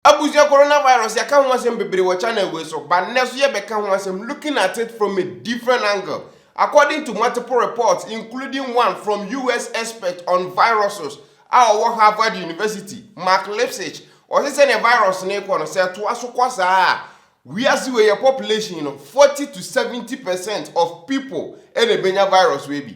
Abusua Coronavirus yɛaka ho asɛm bebree wɔ channel wei so but nnɛ so yɛbɛka ho asɛm looking at it from a different angle according to multiple reports including one from US expert on viruses a ɔwɔ Harvard University Mark Lipsitch ɔse sɛnea virus no rekɔ no sɛ ɛtoa so kɔ saa a wiase wei yɛ population no 40 to 70 percent of people ɛna ɛbɛnya virus wei bi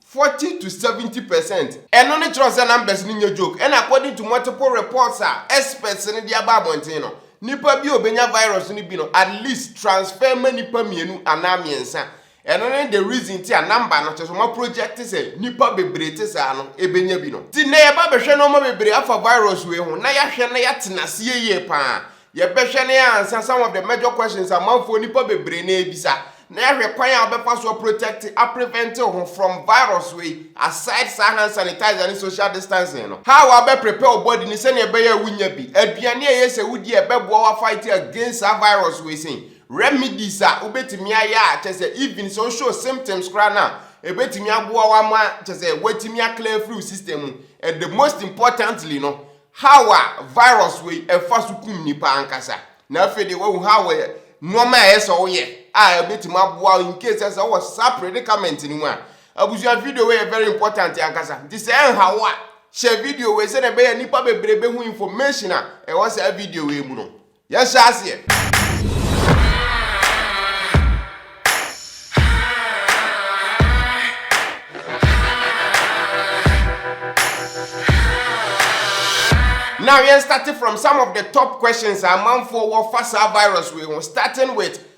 Forty to seventy percent. Ɛno no kyerɛ sɛ numbers no nyɛ joke. Ɛna according to multiple reports a experts no de aba abɔnten no, nipa bi a obenya virus no bi no at least transfer ma nipa mmienu anaa mmiɛnsa. Ɛno ne the reason nti a number no, kyerɛ sɛ wɔaproject sɛ nipa bebree te saa no benya bi no. Nti nnɛ yɛba abɛhwɛ nnoɔma bebree afa virus wei ho na yɛahwɛ na yɛatena aseɛ yie paa Yɛbɛhwɛ ne ansa some of the major questions amanfoɔ nipa bebree na ɛbisa na yɛahwɛ kwan a wobɛfa so a protect a prevent wo ho from virus wei aside saa hand sanitizer ne social distancing no. How a wobɛ prepare wo body no sɛnea ɛbɛyɛ a wonnya bi, aduane a ɛyɛ sɛ wodi a ɛbɛboa wo a fight against saa virus wei sɛn remedies a wobɛtumi ayɛ a kyerɛ sɛ even sɛ wo show symptoms koraa no a ɛbɛtumi aboa wo ama kyerɛ sɛ woatumi a clear afiri wo system mu and the most importantly no Haw a virus wei ɛfa so kum nnipa ankasa. Na afei deɛ wahu haw a nnoɔma a ɛyɛ sɛ woyɛ a ɛbɛtumi aboa in case sɛ sɛ wɔ saa predicament no mu a. Abusua video wei yɛ very important ankasa. Nti sɛ ɛnha wo a, hyɛ video wei sɛdeɛ ɛbɛyɛ nnipa bebree bɛhu information a ɛwɔ saa video wei mu no. Yɛhyɛ aseɛ! Now yɛn starte from some of the top questions a amanfoɔ wɔ fa saa virus wei ho starting with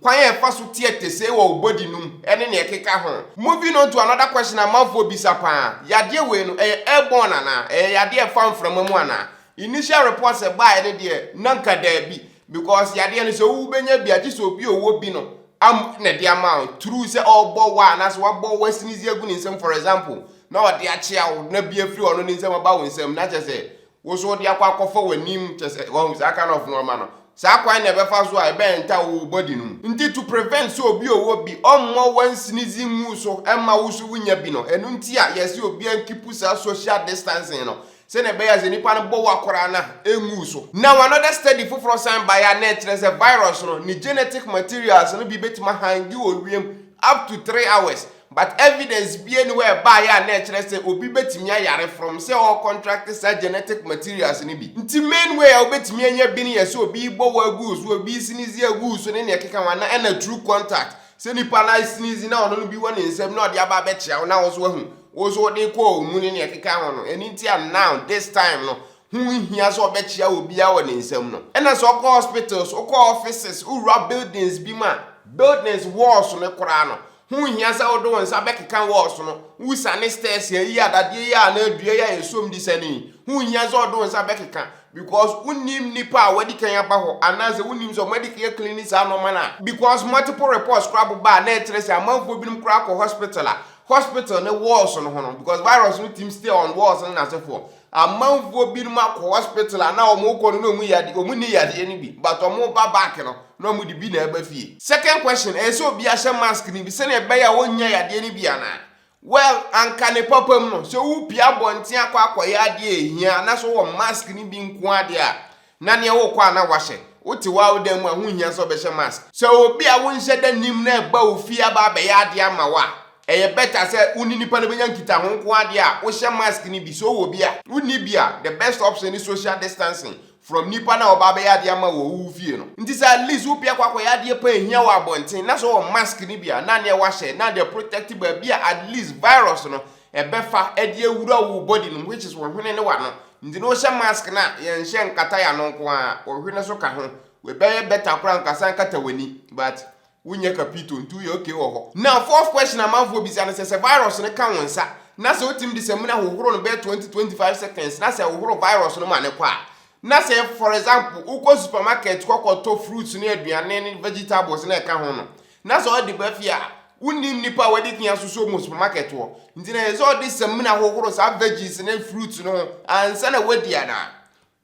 kwan a ɛfa so teɛ tesee wɔ wo body no mu ne nea ɛkeka ho. Moving on to another question a amanfoɔ bisa paa, yadeɛ wei no ɛyɛ airborne anaa? Ɛyɛ yadeɛ a ɛfa mframa mu anaa? Initial reports a ɛbaeɛ no deɛ na anka daabi because yadeɛ no sɛ wo wobɛnya bi a gye sɛ obi a ɔwɔ bi no am na ɛde ama wo through sɛ ɔrebɔ wo anaasɛ wabɔ wo asinizi agu ne nsam for example na ɔde akyea wo na bi afiri ɔno ne nsam aba wo nsam na kyerɛ sɛ Wo so wode akɔ akɔfa w'anim, kyerɛ sɛ, wahu saa kind of nnoɔma no. Saa kwan na ɛbɛfa so a ɛbɛyɛ nta wɔ wo body no mu. Nti to prevent sɛ obi ɔwɔ bi, ɔmmɔ one sneeze ngu so mma wo so wonya bi no, ɛno nti a yɛse obiara nkeep saa social distancing no, sɛnea ɛbɛyɛ a sɛ nipa no bɔ wo akora no a, ɛngu so. Now another study foforɔ san baeɛ a na ɛkyerɛ sɛ virus no, ne genetic materials no bi bɛtumi ahange wɔ wiem up to three hours, But evidence bia ni hɔ a ɛbaeɛ a na ɛkyerɛ sɛ obi bɛtumi ayare from sɛ ɔ contract saa genetic materials no bi. Nti main way a wobɛtumi anya bi no yɛ sɛ obi rebɔ wo agu wo so, obi resinizi agu wo so ne nea ɛkeka ho anaa ɛna through contact. Sɛ nipa no asinizi na ɔno no bi wɔ ne nsam na ɔde aba abɛkyea wo na wo nso wahu, wo nso wode rekɔ ɔwo mu ne nea ɛkeka ho no. Ɛno nti a now this time no ho nhia sɛ ɔbɛkyea obiara wɔ ne nsam no. Ɛna sɛ wokɔ hospitals, wokɔ offices, wowura buildings bi mu a, buildings walls no koraa no Ho nhia sɛ wode wo nsa bɛkeka walls no, wusa ne stairs yi, eyi a dadeɛ yi a anaa dua yi a yɛsom de siane yi. Ho nhia sɛ wode wo nsa bɛkeka because wonnim nnipa a wɔadi kan aba hɔ anaasɛ wonnim sɛ wɔadi kan cleane saa nnoɔma no a. Because multiple reports koraa boba a na ɛkyerɛ sɛ amanfoɔ binom koraa kɔ hospital a hospital ne walls no ho no because virus no tim stay on walls no n'asefoɔ. Amanfoɔ binom akɔ hospital a na wɔn rekɔ no na wɔn yade wɔn nni yadeɛ no bi but wɔn reba back no na wɔn de bi na ɛba fie. Second question, ɛyɛ sɛ obiara hyɛ mask no bi sɛdeɛ ɛbɛyɛ a wɔnnya yadeɛ no bi anaa? Well, anka ne papam no, sɛ wopue abɔnten akɔ akɔyɛ adeɛ a ɛhia na sɛ wowɔ mask no bi nko ara deɛ a, Na nea wokɔ a na woahyɛ. Wote w'awodan mu a, ho nhia sɛ wobɛhyɛ mask. Sɛ obi a wonhyɛ da nnim no reba wo fie aba abɛyɛ ade ama wo a, ɛyɛ better sɛ wo ne nipa no bɛnya nkitaho nko ara deɛ a, wohyɛ mask no bi. Sɛ wowɔ bi a, wonni bi a, the best option ne social distancing from nipa no a ɔba abɛyɛ adeɛ ama wo wɔ wo fie no. Nti sɛ at least wopia kɔ akɔyɛ adeɛ paa ɛhia wɔ abɔnten na sɛ wowɔ mask no bi a, na neɛ woahyɛ na de aprotect baabi a at least virus no Ɛbɛfa ɛde awura wo body no mu which is wo hwene ne w'ano. Nti no wohyɛ mask no a yɛnhyɛ nkata y'ano nko ara, wo hwene so ka ho. W'ɛbɛyɛ better koraa nka san kata w'ani but wo nyɛ kapito nti woyɛ okay wɔ hɔ. Now fourth question a amanfoɔ bisa no sɛ sɛ virus no ka wo nsa na sɛ wotumi de samina hohoro no bɛyɛ 20, 25 seconds na sɛ wohoro virus no ma no kɔ a na sɛ for example wokɔ supermarket kɔ kɔ tɔ fruits ne aduane ne vegetables ne ɛka ho no Na sɛ ɔde ba fie a, wonnim nnipa a wɔde fi asosɔ wɔn wɔ supermarket hɔ, nti na ɛyɛ sɛ ɔde samina hohoro saa veggies ne fruits no ho ansa na wadi anaa?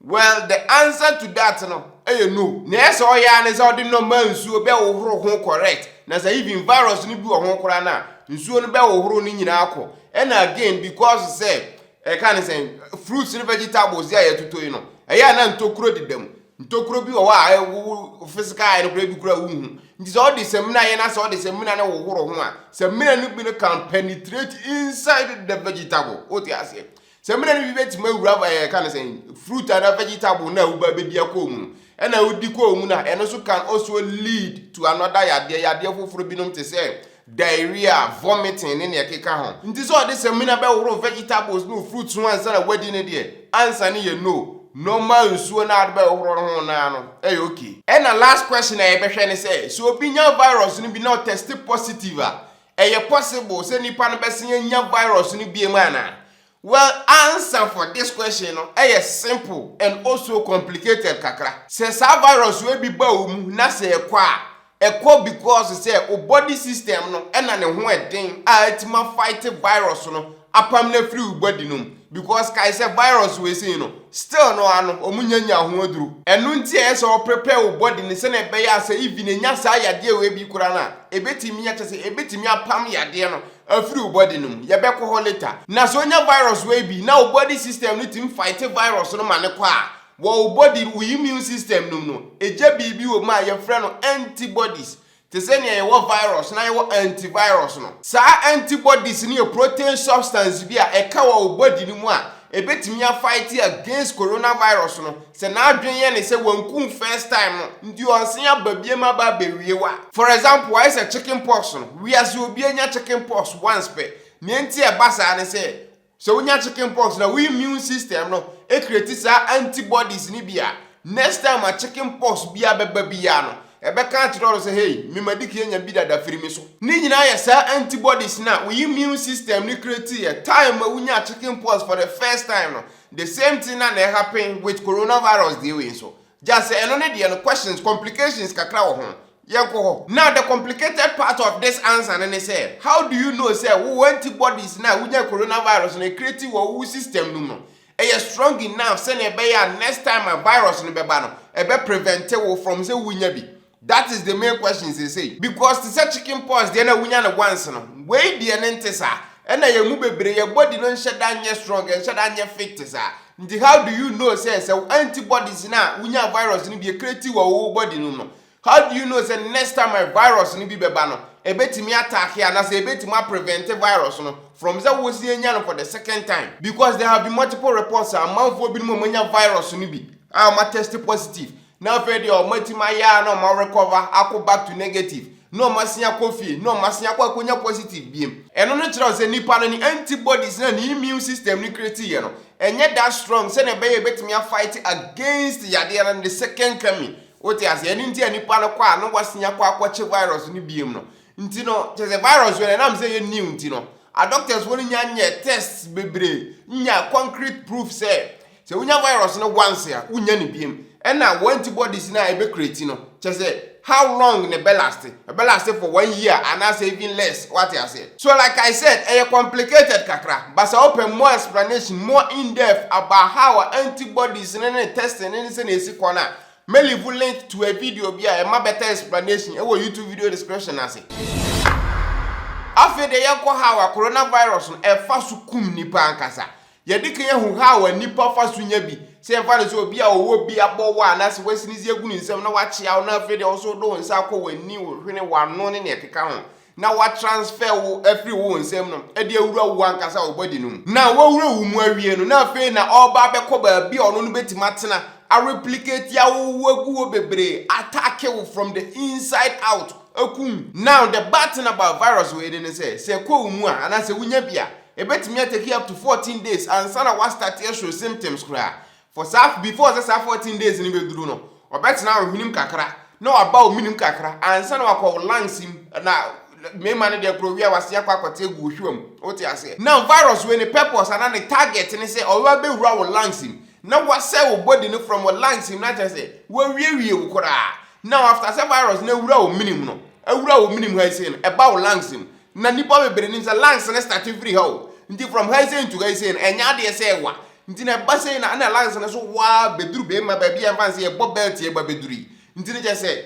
Well, the answer to that no yɛ no. Nea ɛyɛ sɛ ɔyɛ ara ne sɛ ɔde normal nsuo bɛhohoro ho correct, na sɛ even virus no bi wɔ ho koraa no a, nsuo no bɛhohoro ne nyinaa akɔ. Ɛna again, because sɛ, ɛka ne sɛn, fruits ne vegetables yi a yɛtoto yi no, ɛyɛ a na ntokuro deda mu, Ntokuro bi wɔ hɔ a wo wo physical eye no koraa bi koraa wonhu. Nti sɛ ɔde samina yɛ na sɛ ɔde samina no hohoro ho a, samina no bi no can penetrate inside the vegetable. Wote aseɛ? Samina no bi bɛtumi awura ɛɛ eh, ka no sɛn fruit anaa vegetable no a woba bɛdi akɔɔ mu no. Ɛna wodi kɔɔ mu no a, ɛno nso can also lead to another yadeɛ, yadeɛ foforɔ binom te sɛ diarrhea, vomiting ne nea ɛkeka ho. Nti sɛ ɔde samina bɛhoro vegetables ne fruits ho ansa na wadi no deɛ, answer no yɛ no. Normal nsuo no a wode bɛhohoro no ho no ara no yɛ ok. Ɛna last question a yɛbɛhwɛ ne sɛ, sɛ obi nya virus no bi na ɔtɛste positive a, ɛyɛ possible sɛ nipa no bɛsan anya virus no biom anaa? Well answer for this question no yɛ simple and also complicated kakra. Sɛ saa virus wei bi ba wo mu na sɛ ɛkɔ a, ɛkɔ because sɛ wo body system no na ne ho ɛden a atumi a fight virus no apam no afiri wo body no mu because kae sɛ virus wei sei no still no ara no wɔn nya nyaa ho aduro. Ɛno nti ɛyɛ sɛ wo prepare wo body no sɛdeɛ ɛbɛyɛ a sɛ even ɛnya saa yadeɛ wei bi koraa no a ɛbɛtumi akyɛ sɛ ɛbɛtumi apam yadeɛ no Afiri wo body no mu, yɛbɛkɔ hɔ later. Na sɛ onya virus wei bi na wo body system no tumi fight virus no ma no kɔ a, wɔ wo body, wo immune system no mu no, egya biribi wɔ mu a yɛfrɛ no antibodies. Te sɛ nea yɛwɔ virus na yɛwɔ antivirus no. Saa antibodies no yɛ protein substance bi a ɛka wɔ wo body no mu a ɛbɛtumi a fight against coronavirus no Sɛ n'adwen yɛ ne sɛ wanku wo first time no nti ɔnsen aba biam aba abɛwie wo a. For example, ayɛ sɛ chicken pox no, wiase obia nya chicken pox once pɛ, nea enti a ɛba saa ne sɛ, sɛ wonya chicken pox no a wo immune system no create saa anti bodies no bi a next time a chicken pox biara bɛba biara no ɛbɛka akyerɛ no sɛ hey me madiki anya bi dada firi me so. Ne nyinaa yɛ saa anti bodies no a wo immune system no create yɛ time a wonyaa chicken pox for the first time no The same thing na na ɛhappen with coronavirus deɛ wei nso. Just sɛ ɛno ne deɛ no questions, complications kakra wɔ ho. Yɛnkɔ hɔ. Now the complicated part of this answer no ne sɛ, how do you know sɛ wo antibodies no a wonya coronavirus no ɛcreate wɔ wo system no mu no ɛyɛ strong enough sɛnea ɛbɛyɛ a next time a virus no bɛba no ɛbɛ prevent wo from sɛ wonya bi? That is the main question seesei because te sɛ chicken pox deɛ na wonya no once no, wei deɛ no nte saa. Ɛna yɛn mu bebree yɛn body no nhyɛ da nyɛ strong, ɛnhyɛ da nyɛ fit te saa. Nti how do you know sɛ sɛ wo antibodies no a wonyaa virus no bi ɛcreate wɔ wo body no mu no, how do you know sɛ next time a virus no bi bɛba no ɛbɛtumi attack anaasɛ ɛbɛtumi aprevent virus no from sɛ wosan anya no for the second time? Because there have been multiple reports a amanfoɔ binom a wɔanya virus no bi a wɔatest positive Na afei deɛ ɔmo atim ayɛ ara na ɔmo a recover akɔ back to negative na ɔmo asen akɔ fie na ɔmo asen akɔ akɔnya positive biem. Ɛno no kyerɛ sɛ nipa no ne antibodies no a ne immune system no create yɛ no ɛnyɛ that strong sɛdeɛ ɛbɛyɛ a ɛbɛtumi a fight against yadeɛ no the second coming. Wote aseɛ? Ɛno nti a nipa no kɔ a na wasen akɔ akɔkye virus no biem no. Nti no kyerɛ sɛ virus wei no ɛnam sɛ ɛyɛ new nti no a doctors foɔ no nnya nyɛɛ tests bebree nnya concrete proof sɛ Sɛ wonya virus no once a, wonnya no biom. Ɛna wo antibodies no a ɛbɛ create no, kyerɛ sɛ how long na ɛbɛ last? Ɛbɛ last for one year anaasɛ even less, wate aseɛ? So like I said, ɛyɛ complicated kakra, but sɛ wopɛ more explanation, more in depth about how a antibodies no ne testing no ne sɛnea ɛsi kɔ no a, mɛ leave link to a video bi a ɛma better explanation ɛwɔ YouTube video description no ase. Afei deɛ yɛnkɔ how a coronavirus no ɛfa so kum nnipa ankasa. Yɛde kan ahu how a nnipa fa so nya bi. Sɛ yɛmfa no sɛ obi a ɔwɔ bi abɔ wo a anaasɛ wasi ne se agu ne nsam na wakyea wo na afei deɛ wo nso wode wo nsa akɔ w'ani, wo hwene, w'ano ne nea ɛkeka ho na watransfer wo afiri wo nsam no de awura wo ankasa wo body no mu. Na wawura wo mu awie no na afei na ɔreba abɛkɔ baabi a ɔno no bɛtumi atena, a replicate awowo agu hɔ bebree, attacke wo from the inside out, akum. Now the bad thing about virus wei no ne sɛ, sɛ ɛkɔ wo mu a anaasɛ wonya bi a, Ebetumi ateki up to fourteen days ansa na wɔastate ɛhwere symptoms koraa. For saa before sɛ saa fourteen days no bɛduru no, ɔbɛtena wo hwenem kakra na waba wo menem kakra ansa na wakɔ wo lungs mu na mmarima no deɛ korɔ wie a wasen akɔ akɔte agu wo hwewa mu. Wote aseɛ? Now virus wei ne purpose anaa ne target ne sɛ ɔbɛba bɛwura wo lungs mu na wasɛe wo body no from wo lungs mu na kyerɛ sɛ wawiewie wo koraa. Now after sɛ virus no awura wo menem no, awura wo menem ha yi sei no, ɛba wo lungs mu Na nnipa bebree nim sɛ lungs no starte firi ha o, nti from haisei to haisei no ɛnyɛ adeɛ sɛ ɛwa, nti na ɛba sei na ɛna lungs no so wa ara bɛduru bɛma baabi a yɛmfa no sɛ yɛbɔ belt yi ɛba bɛduru yi, nti no kyerɛ sɛ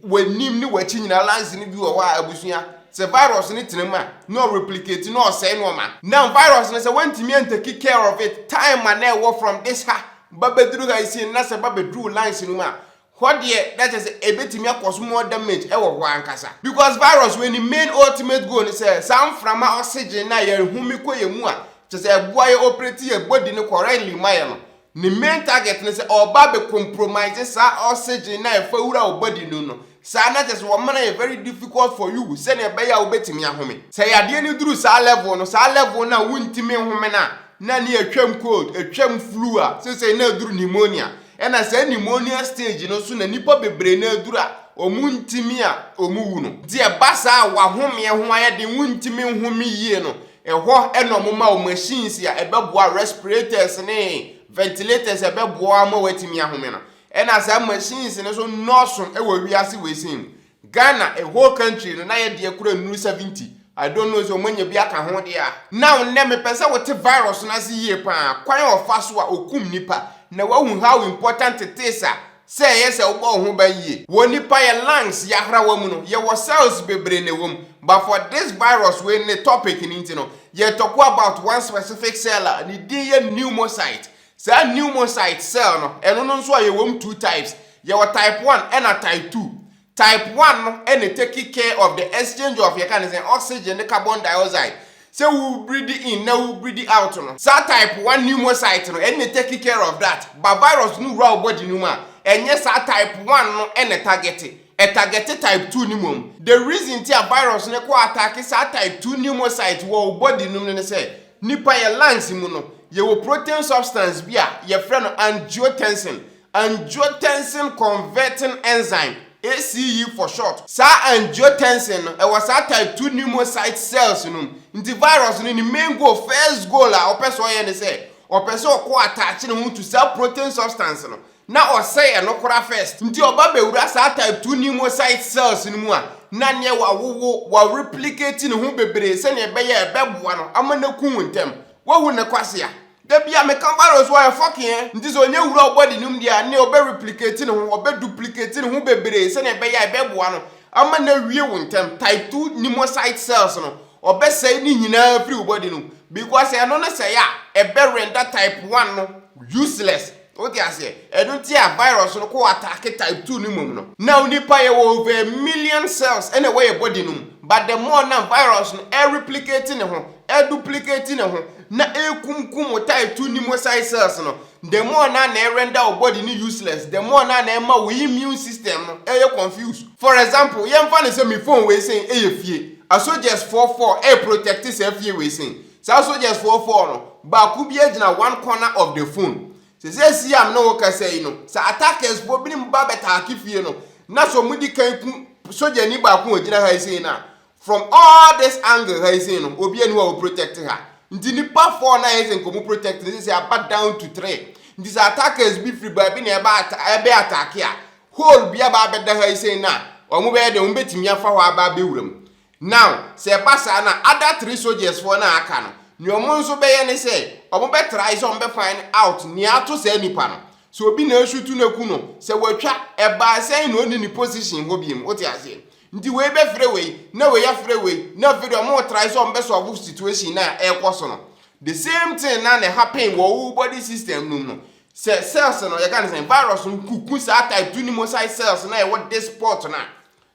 w'anim ne w'akyi nyinaa lungs no bi wɔ hɔ a abusua sɛ virus no tena mu a na ɔreplicate na ɔsɛe nnoɔma. Now virus no sɛ woantumi antake care of it time a na ɛwɔ from this ha ba bɛduru haisei no na sɛ ɛba bɛduru wo lungs no mu a Hɔ deɛ na kyerɛ sɛ ɛbɛtumi akɔso more damage ɛwɔ hɔ ankasa because virus wei ne main ultimate goal ne sɛ saa mframa oxygen no a yɛn home kɔ yɛn mu a kyerɛ sɛ ɛboa yɛ operate yɛ body no correctly ma yɛ no ne main target ne sɛ ɔba abɛ compromise saa oxygen no a ɛfa wura wɔ body no no saa na kyerɛ sɛ wɔma no ayɛ very difficult for you sɛnea ɛbɛyɛ a wobɛtumi ahome. Sɛ yadeɛ no duru saa level no saa level no a wontumi nhome no a na ne atwam cold, atwam flu a seisei na aduru pneumonia. Ɛna saa pneumonia stage no so na nnipa bebree no aduru a wɔn ntumi a wɔn wu no. Nti ɛba saa a wahomeɛ ho ayɛ den, wontumi nhome yie no, ɛhɔ ɛna wɔn ma wo machines a ɛbɛboa respirators ne ventilators a ɛbɛboa ama woatumi ahome no. Ɛna saa machines no nso nnɔɔso wɔ wiase wei sɛn mu. Ghana a whole country no na yɛ deɛ kura nnuru 70 I don't know sɛ wɔanya bi aka ho deɛ a. Now nnɛ mepɛ sɛ wote virus no ase yie paa, kwan a ɔfa so a ɔkum nnipa, na woahu how important it is a sɛ ɛyɛ sɛ wobɔ wo ho ban yie. Wɔ nnipa yɛ lungs yɛ ahrawa mu no yɛwɔ cells bebree na ɛwɔ mu but for this virus wei ne topic no nti no yɛretɔko about one specific cell a ne din yɛ pneumocyte Saa pneumocyte cell no, ɛno no nso a yɛwɔ mu two types. Yɛwɔ type one ɛna type two. Type one no ɛna take care of the exchange of yɛka ne sɛn, oxygen ne carbon dioxide. Sɛ wo breathe in na wo breathe out no. Saa type one pneumocyte no ɛna take care of that. Ba virus no wura wo body no mu a, ɛnyɛ saa type one no ɛna ɛtagɛte. Ɛtagɛte type two no mmom. The reason nti a virus no kɔ attack saa type two pneumocyte wɔ wo body no mu no ne sɛ, Nipa yɛ lungs mu no, yɛwɔ protein substance bi a yɛfrɛ no angiotensin, angiotensin converting enzyme, ACE for short. Saa angiotensin no, ɛwɔ saa type two pneumocyte cells no mu. Nti virus no, ne main goal, first goal a ɔpɛ sɛ ɔyɛ ne sɛ, ɔpɛ sɛ ɔkɔ attach ne ho to saa protein substance no, na ɔsɛe ɛno koraa first. Nti ɔba bɛwura saa type two pneumocyte cells no mu a, na neɛ wawowo, wa replicate ne ho bebree sɛdeɛ ɛbɛyɛ a ɛbɛboa no ama no aku wo ntɛm. Wahu ne kwasea? Da biara meka virus wɔ ha, ɛfɔke ɛ. Nti sɛ ɔnya wura wo body no mu deɛ a, neɛ ɔbɛ replicate ne ho, ɔbɛ duplicate ne ho bebree sɛdeɛ ɛbɛyɛ a ɛbɛboa no ama no awie wo ntɛm. Type two pneumocyte cells no, ɔbɛsɛe ne nyinaa afiri wo body no mu. Because ɛno no sɛe a, ɛbɛ render type one no useless. Wote aseɛ? Ɛno nti a virus no kɔ attack type two no mmom no. Now nipa yɛwɔ over a million cells ɛna ɛwɔ yɛ body no mu but the more na virus no ɛreplicate ne ho, ɛduplicate ne ho na ɛrekumkum wo type two pneumocyte cells no, the more na na ɛrender wo body no useless, the more na na ɛma wo immune system no ɛyɛ confused. For example, yɛmfa no sɛ me phone wei sei ɛyɛ fie, asogyɛsfoɔ four ɛreprotect saa fie wei sei, Saa soldiers foɔ four no, baako biara gyina one corner of the phone. Sɛ seesei a me ne wo kasa yi no, sɛ attackers foɔ binom ba bɛtaake fie no, na sɛ wɔn di kan ku sogyani baako a ɔgyina ha yi sei no a, from all this angle ha yi sei no, obiara ni hɔ a ɔ protect ha. Nti nnipa four no a ɛyɛ sɛ nka wɔn protect no, seesei aba down to three. Nti sɛ attackers bi firi baabi na ɛba ata ɛbɛ attack a, hole bi aba abɛda ha yi sei no a, wɔn bɛyɛ dɛn? Wɔn bɛtumi afa hɔ aba abɛwura mu. Now, sɛ ɛba saa na other three soldiers foɔ no a aka no, nea ɔmo nso bɛyɛ ne sɛ, ɔmo bɛ try sɛ ɔmo bɛ find out nea ato saa nipa no. Sɛ obi na ɛresutu no aku no, sɛ watwa, ɛbaa sɛn na ɔnni ne position hɔ biom, wote aseɛ? Nti wei bɛ frɛ wei, na wei afrɛ wei, na afei deɛ ɔmo retry sɛ ɔmo bɛ solve situation no a ɛrekɔ so no. The same thing na na ɛhappen wɔ wo body system no mu no. Sɛ cells no, yɛka no sɛn, virus no ku, ku saa type two pneumocyte cells no a ɛwɔ this spot no a,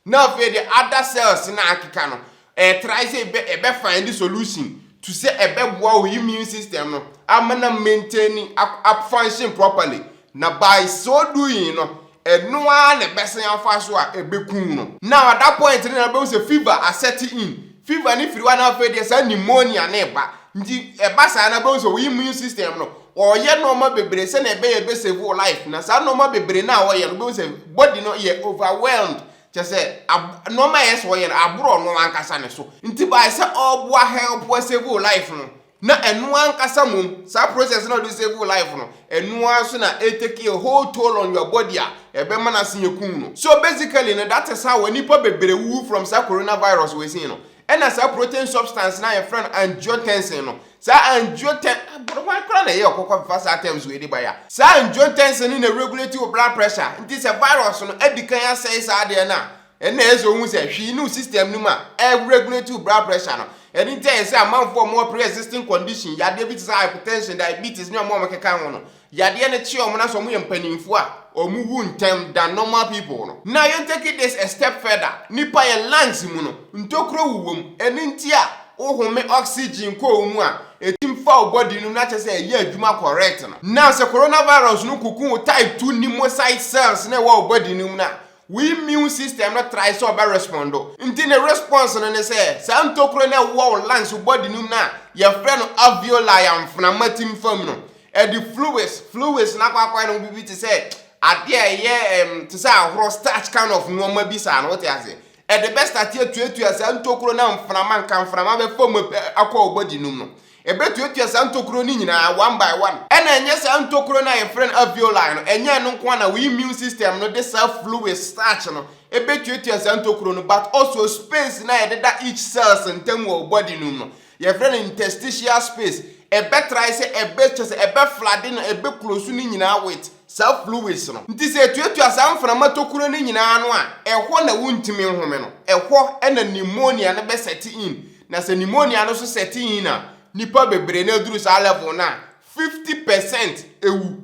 Na afei deɛ other cells no a akeka no, ɛɛ try sɛ ɛbɛ ɛbɛ find solution to sɛ ɛbɛboa wo immune system no ama na maintain a function properly. Na by so doing no, ɛno ara na ɛbɛsan afa so a ɛbɛku wo no. Now at that point no na wobɛhu sɛ fever asɛte in. Fever ne firi hɔ a na afei deɛ saa pneumonia ne ba nti ɛba saa na bɛhu sɛ wo immune system no ɔyɛ nneɛma bebree sɛnea ɛbɛyɛ ɛbɛsave wo life na saa nneɛma bebree no a ɔyɛ no bɛhu sɛ body no yɛ overwhelmed kyɛ sɛ nneɛma ɛyɛ sɛ ɔyɛ no aborɔ no ankasa ne so nti by sɛ ɔboa help save wo life no Na ɛno ankasa mmom, saa process no a wɔde save wo life no, ɛno ara nso na e take a whole toll on your body a ɛbɛma no asen akum no. So basically no, that is how a nnipa bebree wuwu from saa coronavirus wei sei no. Ɛna saa protein substance no a yɛfrɛ no angiotensin no, saa angioten, aboro hwan koraa na ɛyɛ ɔkɔkɔ fa saa terms wei de bae a? Saa angiotensin no na ɛregulate wo blood pressure, nti sɛ virus no adi kan asɛe saa adeɛ no a, Ɛnna ɛsɛ sɛ ohu sɛ hwee nni wo system no mu a ɛreregulate wo blood pressure no. Ɛno nti ɛyɛ sɛ amanfoɔ a wɔwɔ pre-existing condition, yadeɛ bi te sɛ hypertension, diabetes, ne wɔn a wɔkeka ho no, yadeɛ no kye wɔn na sɛ wɔyɛ mpanimfoɔ a, wɔwu ntɛm than normal people no. Na yɛntake this a step further, nnipa yɛn lungs mu no, ntokuro wowɔ mu, ɛno nti a wohome oxygen kɔ wo mu a, ɛtumi fa wo body no na kyerɛ sɛ ɛyɛ adwuma correct no. Now sɛ coronavirus no kuku wo type two pneumocyte cells no a ɛwɔ wo body no mu no a, Wo immune system no try sɛ ɔbɛ respondo, nti ne response no ne sɛ saa ntokuro no a ɛwowɔ wo lungs, wo body no mu no a yɛfrɛ no alveoli a mframa tim fam no, ɛde fluids, fluids no akɔ akɔyɛ no ho biribi te sɛ adeɛ a ɛyɛ ɛm, te sɛ ahorɔ, starch kind of nneɛma bi saa no, wote aseɛ? Ɛde bɛ start atuatua saa ntokuro no a mframa, nka mframa bɛfa mu ɛ, akɔ wo body no mu no. Ɛbɛtuatua saa ntokuro no nyinaa one by one. Ɛna ɛnyɛ saa ntokuro no a yɛfrɛ no alveoli no, ɛnyɛ ɛno nko ara na wo immune system no de saa fluids, starch, no bɛtuatua saa ntokuro no but also space no a ɛdeda each cells ntam wɔ wo body no mu no, yɛfrɛ no interstitial space, ɛbɛtrae sɛ ɛbɛ, kyerɛ sɛ ɛbɛflade no, ɛbɛclose no nyinaa with saa fluids no. Nti sɛ ɛtuatua saa mframa tokuro no nyinaa ano a, ɛhɔ na wontumi nhome no, ɛhɔ na pneumonia no bɛsɛte in, Na sɛ pneumonia no so sɛte yin a, nnipa bebree na eduru saa level no a, fifty percent wu.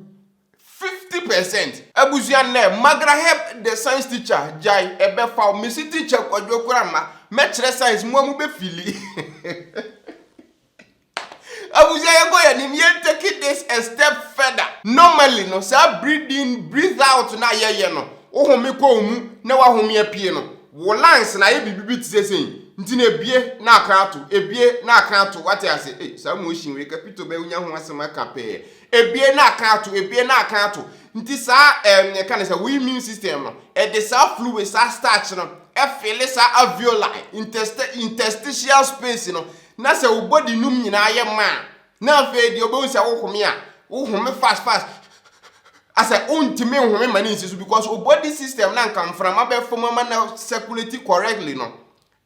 Fifty percent! Abusua nnɛ Magra help the science teacher gyae ɛbɛfa wo mesi teacher kwadwo kora mma mɛkyerɛ science moa mo bɛ fili Abusua yɛnkɔ yɛn anim yɛn take this a step further. Normally no saa breathe in breathe out no a yɛyɛ no wo home kɔ wo mu na wahome apue no Wo lungs no ayɛ biribi bi te sɛ sei, nti no ebue na akan ato, ebue na akan ato, wate ase? Ei, saa motion wei, Kapito bɛyɛ wonya ho asɛm aka pɛɛ. Ebue na akan ato, ebue na akan ato. Nti saa, ɛɛm, yɛka no sɛ wo immune system no, ɛde saa fluid, saa starch no, ɛfele saa alveoli, intesti, interstitial space no, na sɛ wo body nom nyinaa yɛ ma a, Na afei deɛ ɔbɛhu sɛ wohome a wohome fast fast asɛ wontumi nhome ma ne nsi so because o body system na nka mframa bɛfa mu ama na circulate correctly no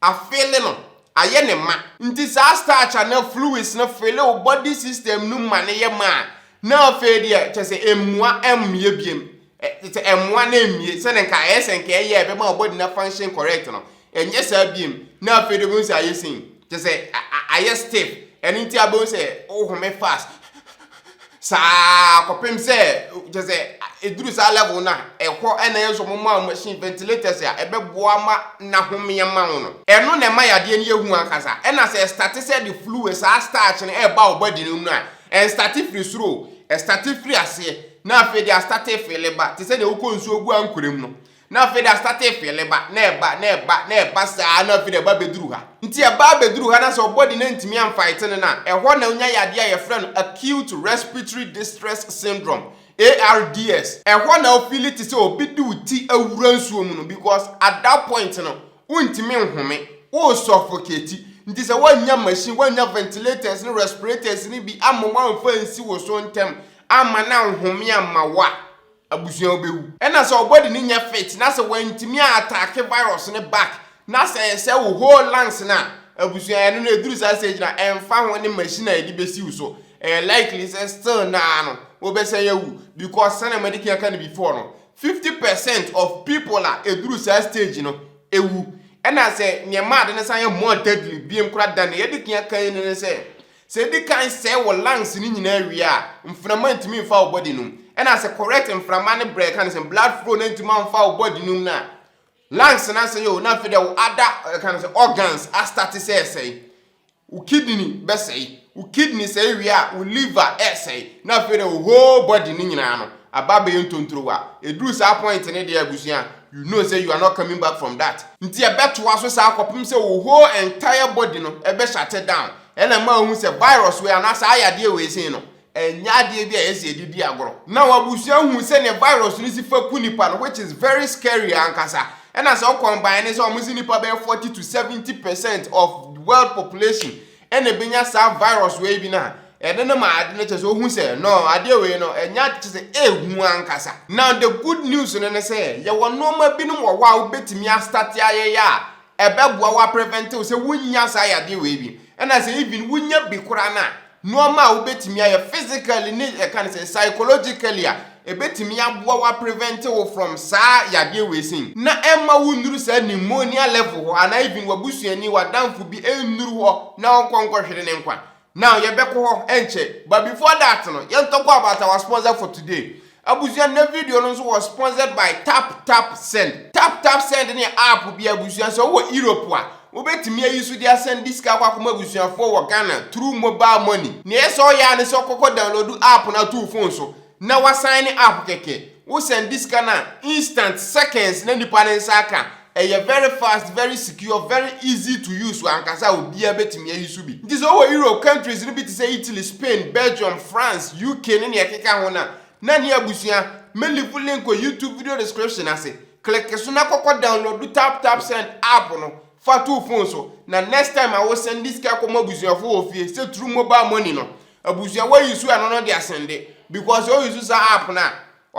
afeele no ayɛ ne ma nti saa starch anaa fluids no feele o body system no ma no yɛ ma a na afei deɛ kyɛ sɛ mmua mmea biem Te sɛ ɛmmoa na ɛmmie, sɛdeɛ nka ɛyɛ sɛ nka ɛyɛ a ɛbɛma wo body no function correct no, ɛnyɛ saa biom, na afei de wobɛhu sɛ ayɛ sei, kyerɛ sɛ ayɛ stiff, ɛno nti abɛhu sɛ wo home fast saa kɔpem sɛ kyerɛ sɛ ɛduru saa level no a ɛhɔ na ɛyɛ sɛ ɔmo ma wo machine ventilators a ɛbɛboa ma na home ama wo no, ɛno na ɛma yadeɛ no yɛ hu ankasa, ɛna sɛ ɛstate sɛ ɛde fluid saa starch no ɛɛba wo body no mu no a, ɛnstate firi soro o, ɛstate firi aseɛ, Na afei de astate fele ba, te sɛ nea wokɔ nsuo gu ankorɛm no. Na afei de astate fele ba, na ɛba, na ɛba, na ɛba saa ara, na afei de ɛba bɛduru ha. Nti ɛba abɛduru ha, na sɛ ɔbɔde no antumi amfaetene no a, ɛhɔ na ɔnya yadeɛ a yɛfrɛ no Acute Respiratory Distress Syndrome, ARDS. Ɛhɔ na wofili te sɛ obi de wo ti awura nsuo mu no because at that point no, wontumi nhome, woresuffocate. Nti sɛ woannya machine, woannya ventilators ne respirators no bi amma woamfa ansi wo so ntɛm Amma na nhome amma wo a, abusua wobɛwu. Ɛna sɛ wo body no nyɛ fit na sɛ wantumi a attack virus no back na sɛ ɛsɛe wo whole lungs no a, abusua ɛno no ɛduru saa stage no a ɛmfa ho ne machine a yɛde bɛsi wo so ɛyɛ likely sɛ still no ara no wobɛsan awu because sɛnea madi kan aka no before no 50 percent of people a ɛduru saa stage no ɛwu. Ɛna sɛ nea ɛma ade no san yɛ more deadly biom koraa than nea yɛadi kan aka yi no ne sɛ Sɛ edi kan sɛe wo lungs no nyinaa wie a, mframa ntumi mfa wo body no mu. Ɛna sɛ correct mframa ne brɛ ɛka ne sɛ blood flow no antumi amfa wo body no mu no a, lungs no asɛe o, na afei deɛ wo other ɛka ne sɛ organs astate sɛ ɛsɛe. Wo kidney bɛsɛe. Wo kidney sɛe wie a, wo liver ɛsɛe. Na afei deɛ wo whole body no nyinaa no aba abɛyɛ ntontrowa. Ɛduru saa point no deɛ abusua, you know sɛ you are not coming back from that. Nti ɛbɛtoa so saa kɔpem sɛ wo whole entire body no ɛbɛ shut down. Ɛna ɛma wohu sɛ virus wei anaa saa yadeɛ wei sei no, ɛnyɛ adeɛ bi a ɛsɛ yɛde di agorɔ. Now abusua hu sɛdeɛ virus no si fa ku nipa no which is very scary ankasa. Ɛna sɛ wokɔ mban no sɛ wɔn se nipa bɛyɛ 40 to 70 percent of world population ɛna ɛbɛnya saa virus wei bi no a, ɛde no ma ade no kyerɛ sɛ wohu sɛ no adeɛ wei no ɛnyɛ ade kyerɛ sɛ ɛhu ankasa. Now the good news no ne sɛ yɛwɔ nnoɔma binom wɔ hɔ a wobɛtumi astate ayɛyɛ a Ɛbɛboa wo aprevente wo sɛ wonnya saa yadeɛ wei bi. Ɛna sɛ even wonya bi koraa no a, nnoɔma a wobɛtumi ayɛ physically ne yɛka no sɛ psychologically a, ɛbɛtumi aboa wo aprevente wo from saa yadeɛ wei sei. Na ɛmma wonnuru saa pneumonia level hɔ anaa even w'abusuani, w'adamfo bi nnuru hɔ na ɔnkɔ nkɔhwere ne nkwa. Now yɛbɛkɔ hɔ ɛnkyɛ but before that no yɛn talk about our sponsor for today abusua nnɛ video no nso wɔ sponsored by tap tap send tap tap send ne app bi abusua sɛ wowɔ Europe a wobɛtumi ayi so de asɛn de sika akɔ akɔma abusuafoɔ wɔ Ghana through mobile money nea ɛsɛ ɔyɛ a ne sɛ ɔkɔkɔ download app no ato wo phone so na wa sign up kɛkɛ wo sɛnde sika no a instant seconds na nipa ne nsa aka ɛyɛ very fast very secure very easy to use ankasa a obia bɛtumi ayi so bi nti sɛ wowɔ Europe countries no bi te sɛ Italy Spain Belgium France UK ne nea ɛkeka ho no a na ne abusua mɛ live link wɔ YouTube video description ase click so na kɔkɔ download tap tap send app no fa to phone so na next time a wo sɛnde sika kɔma abusuafo wɔ fie sɛ through mobile money no Abusua wɔ use ɛno no de asɛnde because sɛ wo use saa app no a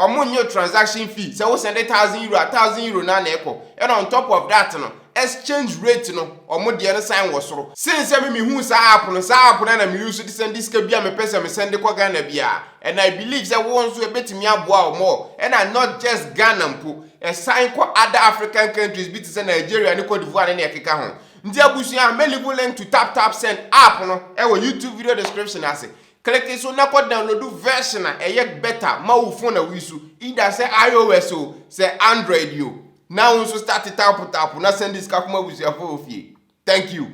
ɔmo nyɛ transaction fee sɛ wo sɛnde thousand euro a thousand euro no ara na ɛkɔ ɛna on top of that no exchange rate no ɔmo deɛ no san wɔ soro sen sɛ me me huu saa app no saa app no ara na me use de sɛnde sika biaa me pɛ sɛ me sɛnde kɔ Ghana biaa ɛna I believe sɛ wo nso ɛbɛtumi aboa wo more ɛna not just Ghana mpo ɛsan kɔ other African countries bi te sɛ Nigeria ne Cote d'Ivoire ne nea ɛkeka ho Nti abusua, me leave u link to tap tap send app no wɔ YouTube video description ase. Click so na kɔ download version a ɛyɛ better ma wo phone a woyi so, either sɛ IOS o, sɛ Android o. Na wo nso start tap tap na send sika kɔma abusuafo wɔ fie. Thank you.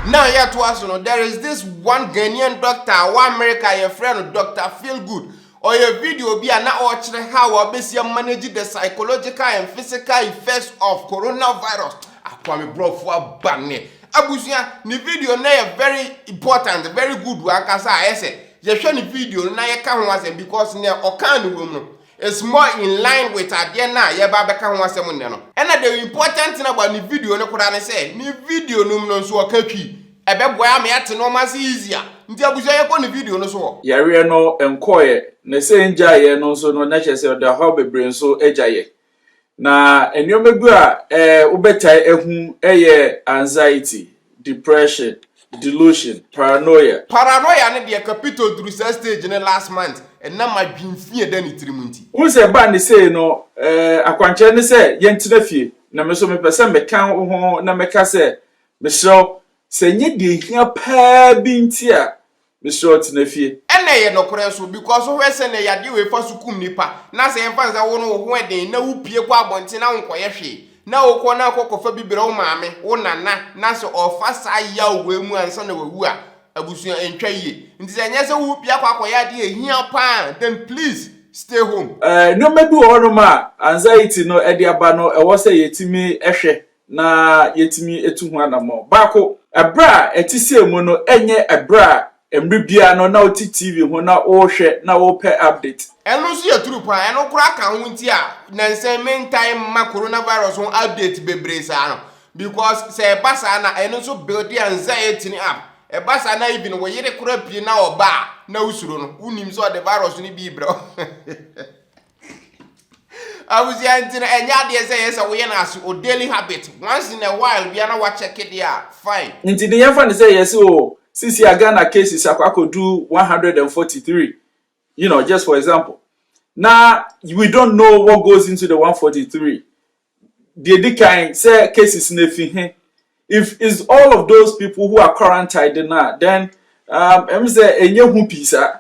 Now yɛtoa so no, there is this one Ghanaian doctor a ɔwɔ America a yɛfrɛ no Doctor Feelgood. Ɔyɛ video bi a na ɔrekyerɛ how a wobesi amanage the psychological and physical effects of coronavirus a Kwame Brɔfo aba nnɛ. Abusua, ne video no yɛ very important, very good ankasa a ɛsɛ yɛhwɛ ne video no na yɛka ho asɛm because nea ɔkaa no wom no is more in line with adeɛ no a yɛba abɛka ho asɛm nnɛ no. Ɛna the important thing about ne video no koraa ne sɛ ne video no mu no nso ɔka Twi. Ɛbɛboa me ate nnoɔma ase easy a. Nti abusua yɛkɔ ne video no so hɔ. Yareɛ no nkɔeɛ na sɛ ngyaeɛ no nso no na kyerɛ sɛ ɔde ɔhaw bebree nso agyaeɛ. Na nnoɔma bi a wobɛtae ahu yɛ anxiety, depression, delusion, paranoia. Paranoia no deɛ kapito duru saa stage no last month ɛnam adwen fi a ɛda ne tiri mu nti. Wohu sɛ ɛbaa ne sei no akwankyerɛ ne sɛ yɛntena fie na me nso mepɛ sɛ meka ho na mɛka sɛ Mesrɛ wo, sɛ ɛnyɛ deɛ ɛhia paa bi nti a, mesrɛ wo tena fie. Ɛna ɛyɛ nokorɛ nso because wohwɛ sɛnea yadeɛ wei fa so kum nnipa na sɛ yɛmfa no sɛ wo no wo ho ɛden na wo pue kɔ abɔnten na wo nkɔyɛ hwee na wo kɔ na akɔ kɔfa bi brɛ wo maame, wo nana na sɛ ɔfa saa yaw wei mu ansa na wawu a abusua ɛntwa yie nti sɛ ɛnyɛ sɛ wo pue akɔ akɔyɛ adeɛ a ɛhia paa a then please stay home. Nneɛma bi wɔ hɔnom a anxiety no ɛde aba no ɛwɔ sɛ yɛtumi hwɛ na yɛatumi atu ho anammɔn. Baako, ɛberɛ a ɛte sɛ mu no ɛnyɛ ɛberɛ a mmerɛ biara no na wote TV ho na worehwɛ na worepɛ update. Ɛno nso yɛ true paa. Ɛno koraa ka ho nti a nnansa yi mentaa mma coronavirus ho update bebree saa no because sɛ ɛba saa na ɛno nso builde anxiety no up. Ɛba saa na even wo yere koraa pue na ɔba a na wosuro no, wonim sɛ ɔde virus no bi rebrɛ wo. abusua nti no ɛnyɛ adeɛ sɛ yɛ sɛ woyɛ no aso o daily habit once in a while bia na wakyɛke deɛ a fine nti de yɛmfa no sɛ yɛse o sisi a Ghana cases akɔ akɔdu 143 you know just for example na we don't know what goes into the 143 deɛ di kan sɛ cases no efi he if it's all of those people who are quarantined na then um, ɛm sɛ ɛnyɛ hu pii saa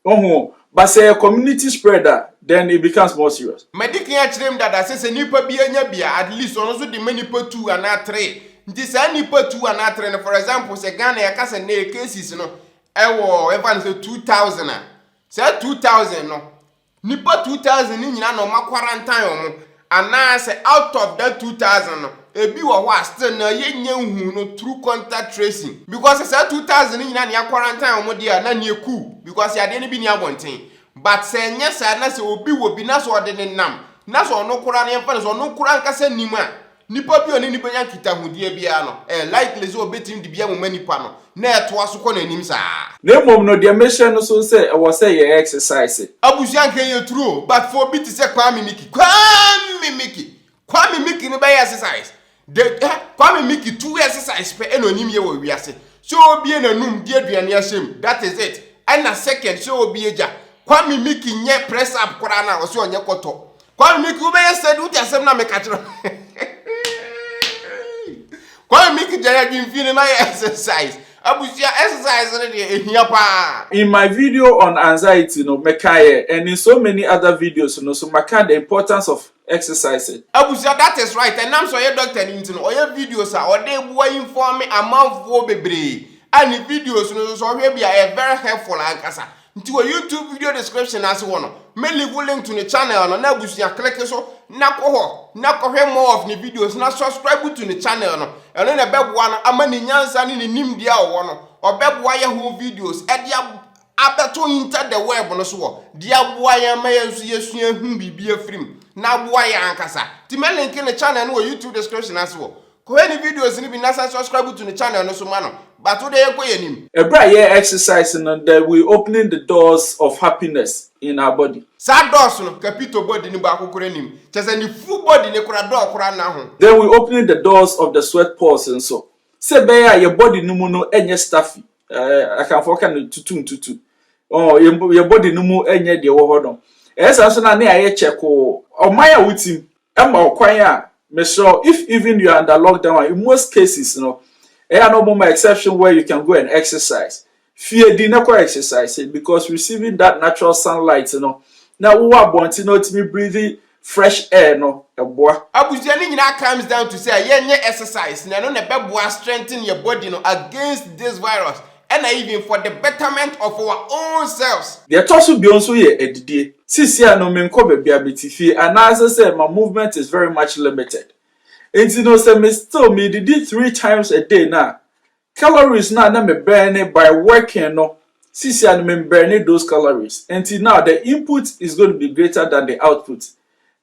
Oho, but sɛ ɛyɛ community spread a, then it becomes more serious. Madi kan akyerɛ mu dada sɛ sɛ nipa bi anya bi a, at least ɔno nso de ma nipa two anaa three. Nti saa nipa two anaa three no, for example, sɛ Ghana yɛka sɛ nnɛ yɛ cases no wɔ yɛmfa no sɛ two thousand a, saa two thousand no, nipa two thousand no nyinaa na wɔn akwarantan wɔn. Anaa sɛ out of that two thousand no ebi wɔ hɔ a still na yɛn nya nhuu no through contact tracing because sɛ saa two thousand no nyinaa na yɛ quarantine wɔn deɛ a na neɛ cool because yadeɛ no bi ni abɔnten but sɛ ɛnyɛ saa na sɛ obi wɔ bi na sɛ ɔde ne nam na sɛ ɔno koraa no yɛn fa no sɛ ɔno koraa ankasa nim a nipa bi ɔne no bɛnya nkitahodeɛ biara no ɛyɛ likely sɛ ɔbɛtumi de bi amoma nipa no Na ɛtoa so kɔ n'anim saa. Na mmom no deɛ mehyɛ no so sɛ ɛwɔ sɛ yɛ exercise. Abusua anka ɛyɛ true o but for obi te sɛ Kwame Mickey Kwame Mickey Kwame Mickey no bɛyɛ exercise de eh Kwame Mickey two exercise pɛ ɛna onim yɛ wɔ wiase sɛ obie n'anum de aduane ahyɛ mu that is it ɛna second sɛ obie gya Kwame Mickey nyɛ press up koraa no a ɔsɛ ɔnyɛ kɔtɔ Kwame Miki wobɛyɛ sɛ de wote asɛm na meka kyerɛ Kwame Miki gyare adwemfie no na yɛ exercise abusua exercise no deɛ ɛhia paa In my video on anxiety no mekaeɛ and in so many other videos no so maka the importance of exercising. Abusua that is right ɛnam sɛ ɔyɛ doctor no nti no ɔyɛ videos a ɔde boa informe amanfoɔ bebree a ne videos no nso sɛ ɔhwɛ bi a ɛyɛ very helpful ankasa Nti wɔ YouTube video description no ase hɔ no, mɛ leave link to ne channel no na abusua click so na kɔ hɔ na kɔhwɛ more of ne videos na subscribe to ne channel no. Ɛno na ɛbɛboa no ama ne nyansa ne ne nimdeɛ a ɔwɔ no, ɔbɛboa yɛ ho videos ɛde abɛto inter the web no so hɔ de aboa yɛn ma yɛn nso yɛsua ahu biribi afiri mu na aboa yɛn ankasa. Nti mɛ link ne channel no wɔ YouTube description ase hɔ. Kɔhwɛ ne videos no bi na san subscribe to ne channel no so ma no. But wo de yɛnkɔ yɛn anim. Ɛberɛ a yɛyɛ exercise no the we opening the doors of happiness in our body. Saa doors no Capito body no baako koraa nnim. Kyerɛ sɛ ne full body no koraa door koraa nna ho. Then we opening the doors of the sweat pores nso. Sɛ ɛbɛyɛ a yɛn body no mu no nyɛ stuffy. Eh, Akanfoɔ ka no tutu ntutu. Oh, yɛn yɛn body no mu nyɛ deɛ ɛwɔ hɔ no. Ɛyɛ saa nso na ne ayɛ kyɛkoo. Ɔman a wotim ɛma ɔkwan a mesrɛ wo if even you are under lockdown a in most cases no ɛyɛ a na ɔmo ma exception where you can go and exercise fie di na kɔ exercise because receiving that natural sunlight no na wowɔ abɔnten na ɔtumi breathe fresh air no ɛboa. Abusua no nyinaa comes down to sɛ yɛnyɛ exercise na ɛno na ɛbɛboa strengthen yɛ body no against this virus ɛna even for the betterment of our own selves. Deɛ ɛtɔ so bio nso yɛ adidie. Seesei no menkɔ baabi a mete fie anaasɛ sɛ ma movement is very much limited nti no sɛ me still medidi three times a day no a calories no a na me burn by working no seesei no me burn those calories nti now the input is going to be greater than the output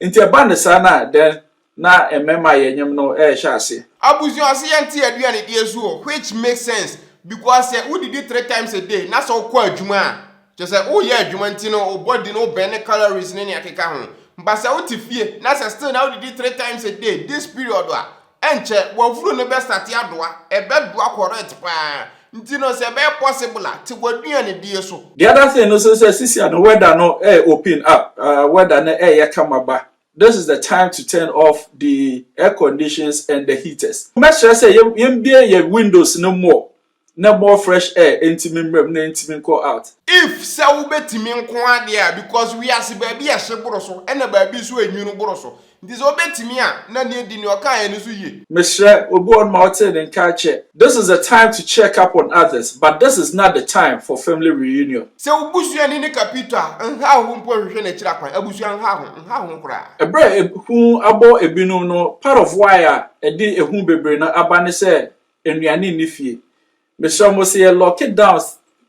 Nti ɛba no saa no a, dɛn na mmɛma a yɛnyem no rehyɛ ase? Abusua se yɛnte aduanedie so o, which makes sense because sɛ wodidi three times a day na sɛ wokɔ adwuma a, kyerɛ sɛ woyɛ adwuma nti no wo body no burn ne calories ne nea ɛkeka ho. But sɛ wote fie na sɛ still na wodidi three times a day this period a, Ɛnkyɛ w'afuru no bɛ starte adoa, ɛbɛ doa correct paa, nti no sɛ ɛbɛyɛ possible a te w'aduanedie so. The other thing no nso sɛ sisia no weather no ɛɛ open up, ah weather no ɛɛyɛ kama ba, this is the time to turn off the air conditions and the heaters. Mɛsrɛ sɛ yɛn yɛn bue yɛn windows no more, Na more fresh air enti me mmerɛm na enti me nkɔ out. If sɛ wo bɛ tumi nko ara deɛ a because wiase baabi ɛhye boro so ɛna baabi nso ɛnwunu boro so nti sɛ wo bɛ tumi a na neɛ di neɛ ɔkaeɛ no so yie. Mesrɛ obi wɔ hɔ nom a ɔtee ne nka akyɛ. This is the time to check up on others but this is not the time for family reunion. Sɛ wo busuani ne Capito a, nhaw ho mpo nhwehwɛ n'akyiri akwan. Abusua nhaw ho, nhaw ho koraa. Ɛberɛ a ehu abɔ ebinom no, part of why a ɛde ehu bebree no aba ne sɛ nnuane nni fie. Mesrɛ mo, sɛ yɛ lock down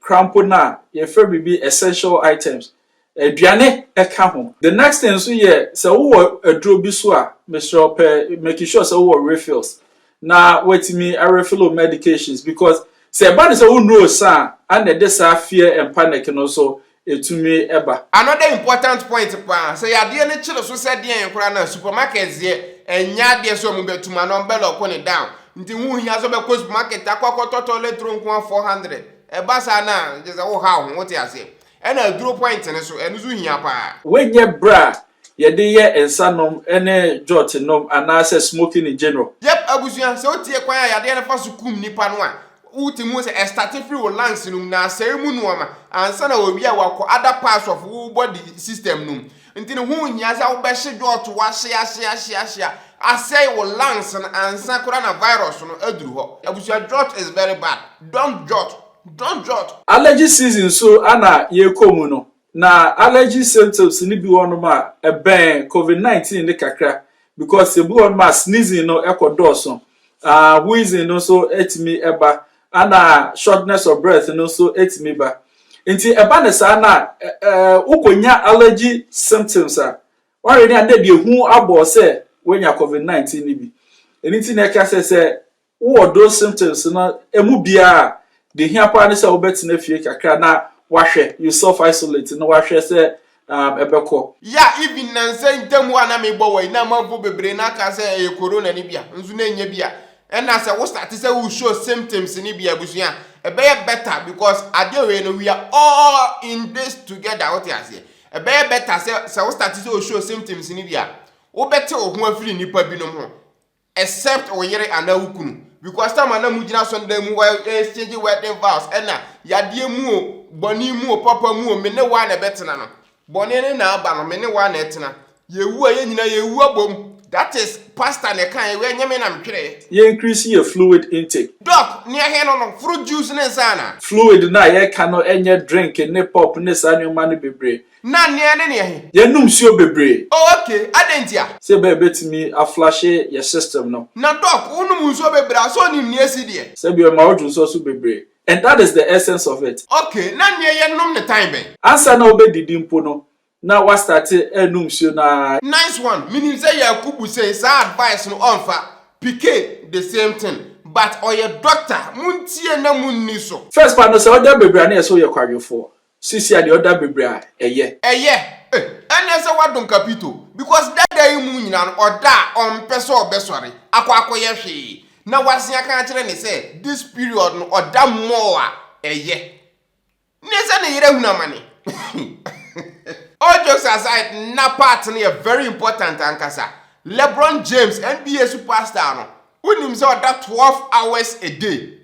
koraa mpo no a, yɛfrɛ biribi essential items, aduane ka ho. The next thing nso yɛ sɛ wowɔ aduro bi so a, mesrɛ wo pɛ make sure sɛ wowɔ refills na woatumi arefill wo medications because sɛ ɛba ne sɛ wonnuro sa a, ɛna ɛde saa fear and panic no nso etumi ba. Another important point paa, sɛ yadeɛ no kyere so sɛ deɛn koraa no a, supermarkets deɛ, ɛnyɛ adeɛ sɛ wɔn bɛtum anaa wɔn bɛlɔko no down. Nti ho nhia sɛ wobɛkɔ supermarket akɔ akɔtɔ toilet roll nko ara 400. Ɛba saa no a, gye sɛ woha wo ho, wote aseɛ? Ɛna aduro point no so, ɛno nso hia paa. Woanyɛ berɛ a Yɛde yɛ nsa nom ne jot nom anaasɛ smoking in general. Yep abusua, sɛ wotie kwan a yadeɛ no fa so kum nipa no a, wote mu sɛ ɛstate firi wo lungs no mu na asɛe mu nnoɔma ansa na wawie a wakɔ other parts of wo body system no mu. Nti no ho nhia sɛ wobɛhye jot wahye ahye ahye ahye a asɛe wo lungs no ansa koraa na virus no aduru hɔ. Abusua jot is very bad, don't jot, don't jot. Allergy season nso na yɛrekɔ mu no, Na allergy symptoms no bi wɔ hɔnom a ɛbɛn covid nineteen no kakra because ebi wɔ hɔnom a sneezing no ɛkɔ dɔɔso, ah wheezing no nso etumi ɛba, ɛna shortness of breath no nso etumi ba. Nti ɛba ne saa na ɛɛ wokɔnya allergy symptoms a wɔre ne a na deɛ ehu abɔ sɛ wɔnya covid nineteen no bi. Ɛno nti na ɛka sɛ sɛ Wowɔ those symptoms no ɛmu biara a, deɛ hia paa ne sɛ wobɛtena fie kakra na wahwɛ, you self isolate na wahwɛ sɛ um, ɛbɛkɔ. Ya even nnansa yi ntam hɔ a na mebɔ wɔ yi na amanfo bebree na aka sɛ ɛyɛ corona no bia nso na ɛnyɛ bia ɛna sɛ wo start sɛ wo show symptoms no bia abusua ɛbɛyɛ better because adeɛ wei no we are all in this together wote aseɛ ɛbɛyɛ better sɛ sɛ wo start sɛ wo show symptoms no bia wobɛte wo ho afiri nnipa binom ho except wo yere anaa wo kunu because time a na mo gyina so ndan mu wɔ exchange wedding vows ɛna yadeɛ mu o bɔne mu o papa mu o me ne waa na ɛbɛtena no bɔne ne na aba no me ne waa na ɛtena yɛwu a yɛn nyinaa yɛwu abom that is pastor na ɛka yɛ wɛ nyɛ me na metwerɛɛ. Yɛ increase yɛ fluid intake. Doc, nea ɛhe no no, fruit juice ne nsa anaa? Fluid no a yɛka no nyɛ drink ne pop ne saa nneɛma no bebree. Na neɛ ne neɛ he? Yɛnnom nsuo bebree. Oh ok, adɛn ntia? Sɛ bɛ bɛtumi a flushe yɛ system no. Na doc, wonom nsuo bebree a, sɛ onim neɛ asi deɛ? Sɛ bi ɔma wodwo nsuo so bebree. And that is the essence of it. Ok, na neɛ yɛnnom no tan bɛn? Ansa na wobɛdidi mpo no, na woastarte anom nsuo no ara. Nice one, menim sɛ Yakubu sei saa advice no ɔmfa, Pike the same thing, but ɔyɛ doctor, montie na monni so. First fa no sɛ wodwa bebree a na yɛsɛ woyɛ kwadwofoɔ. Sisi a deɛ ɔda bebre a ɛyɛ. Ɛyɛ eh ɛnɛ sɛ wadom kapito because dada yi mu nyina no ɔda a ɔmpɛ sɛ ɔbɛsɔre akɔ akɔyɛ hwee na wase aka akyerɛ ne sɛ this period no ɔda more a ɛyɛ ne sɛ ne yere ahunu amane All jokes aside na part no yɛ very important ankasa Lebron James NBA superstar no wonim sɛ ɔda 12 hours a day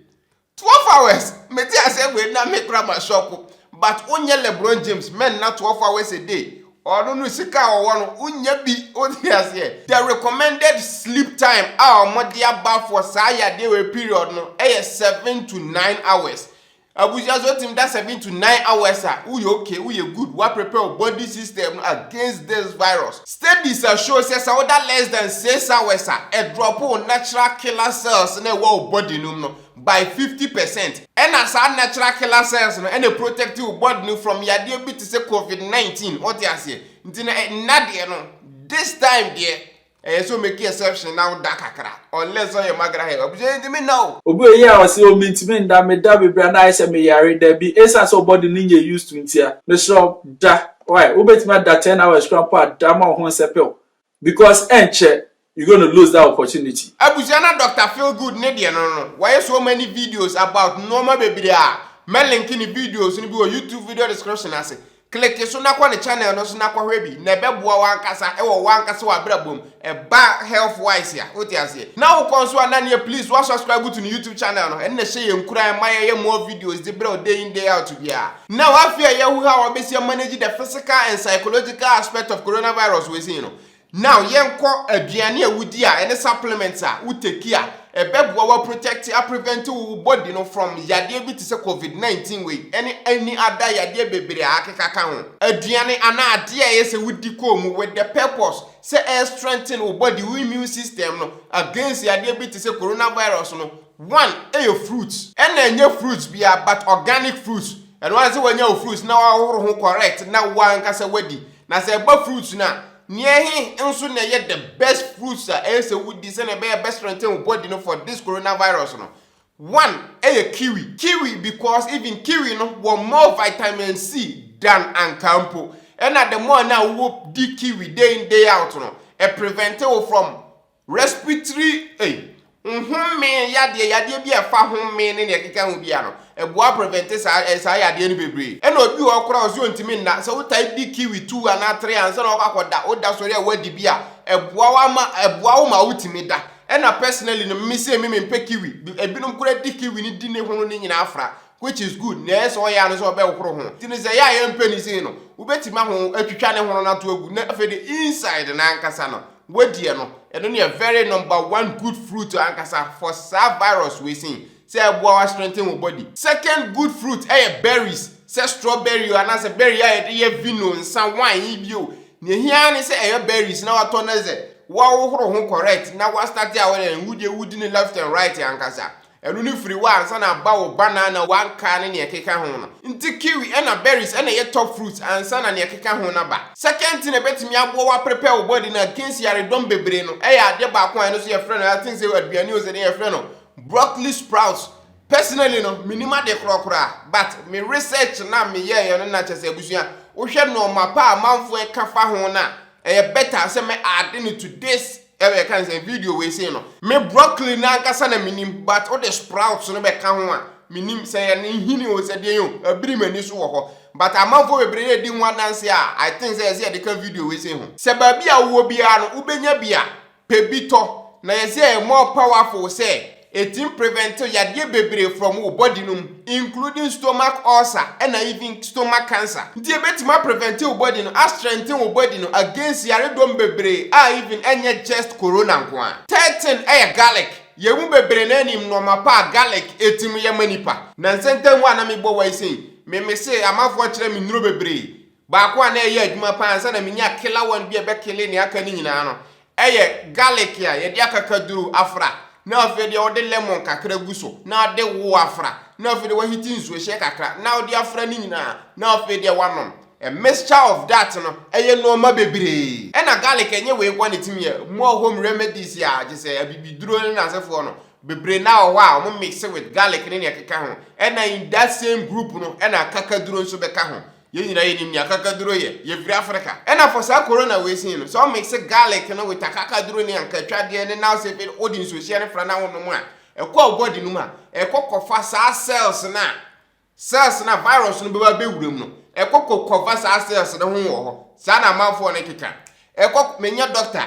Twelve hours mete asɛm wei na me kora ma shock but wo nyɛ lebron James mɛ nna twelve hours a day ɔno no sika a ɔwɔ no wo nya bi wo te aseɛ the recommended sleep time a ɔmo de aba for saa yadeɛ wei period no ɛyɛ seven to nine hours abusua so ɔtim da seven to nine hours a wo yɛ okay wo yɛ good wa prepare wo body system no against this virus. Studies a show sɛ sɛ woda less than six hours a, ɛdrɔpo wo natural killer cells na ɛwɔ wo body no mu no by fifty percent. Ɛna saa natural killer cells no ɛna protect wo body no from yadeɛ bi te sɛ covid nineteen, wote aseɛ? Nti no ɛnna deɛ no this time deɛ ɛyɛ sɛ omeki exception na woda kakra unless ɔyɛ magra hair, abusua yɛntumi nna o. Obi wɔ yea ɔse oh mentumi nda, meda bebree a na ayɛ sɛ meyare, dabi, ɛsiane sɛ wo body no nyɛ used to ntia, mesrɛ wo da. Why? Wobɛtumi ada ten hours kura mpo ada ma wo ho nsɛpɛw because ɛnkyɛ you gonna lose that opportunity. Abusua na Doctor Feel Good ne deɛ no no, wɔayɛ so many videos about nnoɔma bebree a, mɛ linke ne videos no bi wɔ YouTube video description ase. Click so na kɔ ne channel no so na kɔhwɛ bi, na ɛbɛboa wo ankasa wɔ wo ankasa w'abrabɔ mu. Ɛba health wise a wote aseɛ na wo kɔ nso a na neɛ please wa subscribe to ne YouTube channel no ɛno na ɛhyɛ yɛn nkuran ɛma yɛyɛ more videos de brɛ wo day in day out biara. Now afei a yɛahu how a wobɛsi a manage the physical and psychological aspect of coronavirus wei sei no, now yɛnkɔ aduane a wodi a ɛne supplements a wo take a ɛbɛboa wo a protect a prevent wo wo body no from yadeɛ bi te sɛ covid 19 wei ɛne any other yadeɛ bebree a akeka ka ho. Aduane anaa adeɛ a ɛyɛ sɛ wodi kɔɔ mu with the purpose Sɛ ɛyɛ strengthen wo body, wo immune system no against yadeɛ bi te sɛ corona virus no, one, ɛyɛ fruits. Ɛna ɛnyɛ fruits biara but organic fruits, ɛno ara ne sɛ wanya wo fruits na woahohoro ho correct na wo ankasa woadi. Na sɛ ɛba fruits no a, neɛ ɛhe nso na ɛyɛ the best fruits a ɛyɛ sɛ wodi sɛdeɛ ɛbɛyɛ ɛbɛ strengthen wo body no for this corona virus no? One ɛyɛ kiwi, kiwi because even kiwi no wɔ more vitamin C than ankaa mpo, ɛna the more na wo di kiwi day in day out no, ɛ prevent wo from respiratory ei, nhomee yadeɛ, yadeɛ bi a ɛfa homee ne nea ɛkeka ho bia no, ɛboa prevent saa ɛ saa yadeɛ no bebree. Ɛna obi wɔ hɔ koraa ɔse ontumi nna, sɛ wotae di kiwi two anaa three ansa na wakɔ akɔ da, wo da sɔre a wadi bi a, ɛboa wo ama ɛboa wo ma wotumi da. Ɛna personally no me se me mempɛ kiwi. Ebinom kora di kiwi no di ne hono no nyinaa afra which is good nanso ɔyɛ a no sɛ ɔbɛhohoro ho. Nti no sɛ ɛyɛ a yɛmpɛ no sei no wobɛtumi aho atwitwa ne hono no ato agu na afei de inside no ankasa no woadiɛ no ɛno ne yɛ very number one good fruit ankasa for saa virus wei sei. Sɛ ɛboa wo a strengthen wo body. Second good fruit yɛ berries, sɛ strawberry o anaasɛ berry a yɛde yɛ vino, nsa, wine yi bi o. Nea ehia ara ne sɛ ɛyɛ berries na watɔ no dze, woahohoro ho correct na woastarte a wodɛn, wo deɛ wodi no left and right ankasa. Ɛno no firi hɔ a ansa na aba wo banana, w'ankaa ne nea ɛkeka ho no. Nti kiwi ɛna berries na ɛyɛ top fruits ansa na nea ɛkeka ho no aba. Second thing a ɛbɛtumi aboa wo a prepare wo body no against yaredɔm bebree no yɛ adeɛ baako a ɛno nso yɛfrɛ no, I think sɛ aduane o sɛ dɛn yɛfrɛ no, Broccoli sprouts personally no menim ade korɔ koraa but me research na me yɛɛyɛ no na kyɛ sɛ abusua wohwɛ nɔɔma pa a amanfoɔ ɛka fa ho no a ɛyɛ better sɛ mɛ add no to this ɛbɛ yɛka ne sɛ video wei sei no. Me broccoli no ankasa na menim but wode sprouts no bɛka ho a menim sɛ yɛ ne nhini o sɛ deɛn o abiri m'ani so wɔ hɔ but amanfoɔ bebree ɛdi ho adanseɛ a I think sɛ ɛsɛ yɛde ka video wei sei ho. Sɛ baabi a wowɔ biara no wobɛnya bi a. pɛ bi tɔ na yɛ sɛ more powerful sɛ etim prevent yadeɛ bebree from wo body no mu including stomach ulcer ɛna even stomach cancer nti ɛbɛtim a prevent wo body no a strengthen wo body no against yaredɔm bebree a even ɛnyɛ just corona nkoaa. Third thing ɛyɛ garlic, yɛ mu bebree naa nim nnoɔma pa a garlic ɛtim yɛ ma nipa. Nansa ntam hɔ a na me bɔ wae sei me mese amanfoɔ kyerɛ me nnuro bebree Baako a na ɛyɛ adwuma paa ansa na menya killer one bi a ɛbɛkele nea aka no nyinaa no yɛ garlic a yɛde akakaduru afra na afei deɛ wode lemon kakra gu so na wode wo afra na afei deɛ wahiti nsuohyɛ kakra na wode afra no nyinaa na afei deɛ wanom. A mixture of that no yɛ nnoɔma bebree. Ɛna garlic ɛnyɛ wei nko a na ɛtumi yɛ more home remedies a gye sɛ abibiduro ne n'asefoɔ no bebree na wɔ hɔ a wɔn mixe with garlic ne nea ɛkeka ho ɛna in that same group no ɛna akakaduro nso bɛka ho. Yɛn nyinaa yɛnim nea kakaduro yɛ. Yɛfiri Africa. Ɛna for saa corona wei sei no, sɛ wo mixe garlic no with akakaduro ne ankatwadeɛ ne now sɛ wo de nsuohyia no fra na wo nom a, ɛkɔ a wo body no mu a, ɛkɔ kɔfa saa cells no a, cells no a virus no bɛba bɛwura mu no, ɛkɔ kɔkɔfa saa cells no ho wɔ hɔ. Saa na amanfoɔ no keka. Ɛkɔ, menyɛ doctor,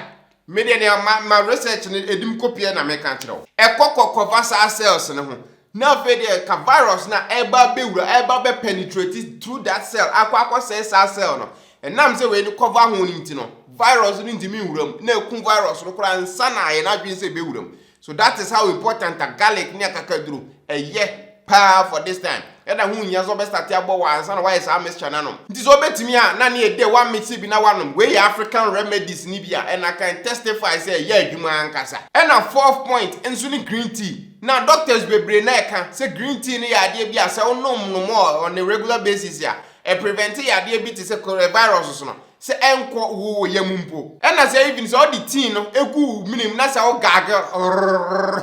Me deɛ nea ma ma research no ɛdi me kɔ pia na meka nkyerɛ wo. Ɛkɔ kɔ kɔva saa cells no ho na afei deɛ ka virus no a ɛreba abɛwura ɛreba abɛ penetrate through that cell akɔ akɔ sɛe saa cell no. Ɛnam sɛ wei no kɔva ho no nti no virus no ntumi nwura mu na ɛku virus no koraa nsa na yɛn adwene sɛ ɛbɛwura mu. So that is how important a garlic ne akakaduro ɛyɛ paa for this time. Ɛda ho nhia sɛ ɔbɛstate abɔ wɔ ansa na wayɛ saa mixture no anom. Nti sɛ ɔbɛtumi a na ne ɛdɛ wa mixe bi na wanom. Wei yɛ African remedies no bi a and I can testify sɛ ɛyɛ adwuma ankasa. Ɛna fourth point nso ne green tea. Na doctors bebree na ɛka sɛ green tea no yɛ adeɛ bi a sɛ wonom no more on a regular basis a, ɛprevente yadeɛ bi te sɛ coronavirus no. sɛ ɛnkɔ wo yam mpo. Ɛna sɛ even sɛ ɔde tea no gu wo menem na sɛ wo gargle rrrrrr